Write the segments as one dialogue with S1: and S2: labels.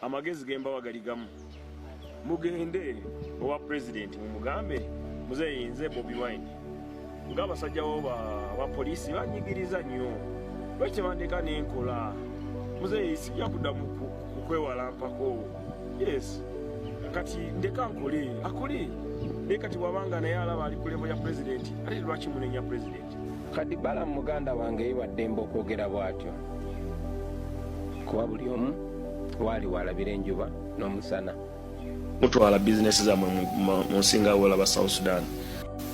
S1: Amagezi gembawa gali gamu. Mugende owa president mumugambe muzeyi nze Bobi Wine. Nga abasajja bo ba, ba police banyigiriza nnyo. Lwaki tebandeka nenkola? Muzeyi sijja kuddamu kukwewala mpako. Yes. Kati ndeka nkole. Akole. Naye kati bwabanga naye alaba ali ku level ya president. Ate lwaki munenya president? kadi balamu
S2: muganda wange yewaddemba okwogera bwatyo kuba buli omu waali walabira enjuba n'omusana mutwala
S1: bizinesi zamwe mu nsinga wolaba south sudan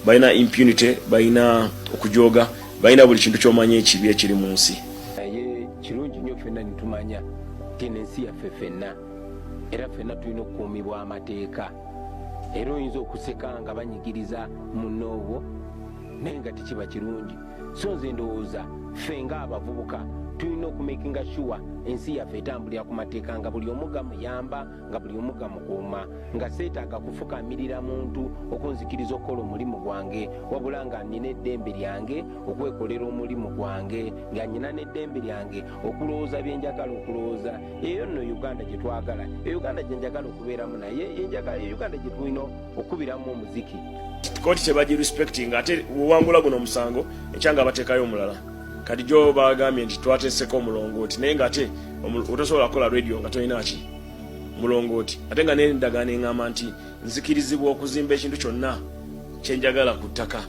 S1: balina impunity balina okujooga balina buli kintu kyomanya ekibi ekiri mu nsi naye
S2: kirungi nnyo fenna nitumanya tino ensi yaffe fenna era fenna tulina okukuumibwa amateeka era oyinza okuseka nga banyigiriza munoowo naye nga tekiba kirungi so nze ndowooza ffe nga abavubuka tulina okumakinga shuwa ensi yaffe etambulira ku mateeka nga buli omu gamuyamba nga buli omu gamukuuma nga seetaaga kufukamirira muntu okunzikiriza okukola omulimu gwange wabula nga nina eddembe lyange okwekolera omulimu gwange nga nina n'eddembe lyange okulowooza bye njagala okulowooza eyo nno uganda gye twagala e uganda gye njagala okubeeramu naye yenjagala e uganda gye tulina okubiramu omuziki kooti tebagi
S1: respecting ate wewangula guno omusango ekyanga abatekayo omulala kati gyo bagambye nti twateseko omulongooti naye nga ate otosobola kukola radio nga tolina ki mulongooti ate nga nendagaano eŋamba nti nzikirizibwa okuzimba ekintu kyonna kyenjagala ku ttaka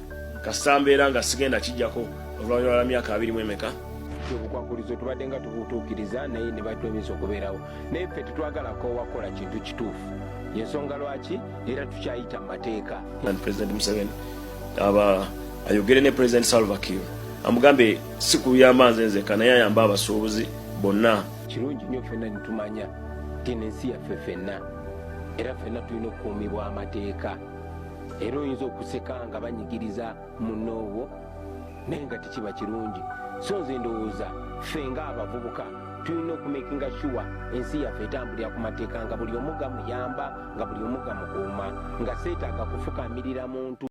S1: kasita mbeera nga sigenda kijjako oluvanyuma lwa myaka abiri mu emeka obukwakulizo
S2: tubadde nga tubutuukiriza naye ne batwemisa okubeerawo naye ffe tetwagala koowa kukola kintu kituufu yensonga lwaki era tukyayita mu mateeka president museveni
S1: aba ayogere ne president salvakir amugambe si kuyamba nze nzeka naye ayamba abasuubuzi bonna kirungi nnyo ffenna
S2: nitumanya tino ensi yaffe ffenna era ffenna tulina okukuumibwa amateeka era oyinza okuseka nga banyigiriza munoowo naye nga tekiba kirungi so nze ndowooza ffe nga abavubuka tulina okumakinga shuwa ensi yaffe etambulira ku mateeka nga buli omu gamuyamba nga buli omu gamukuuma nga seetaaga kufukamirira muntu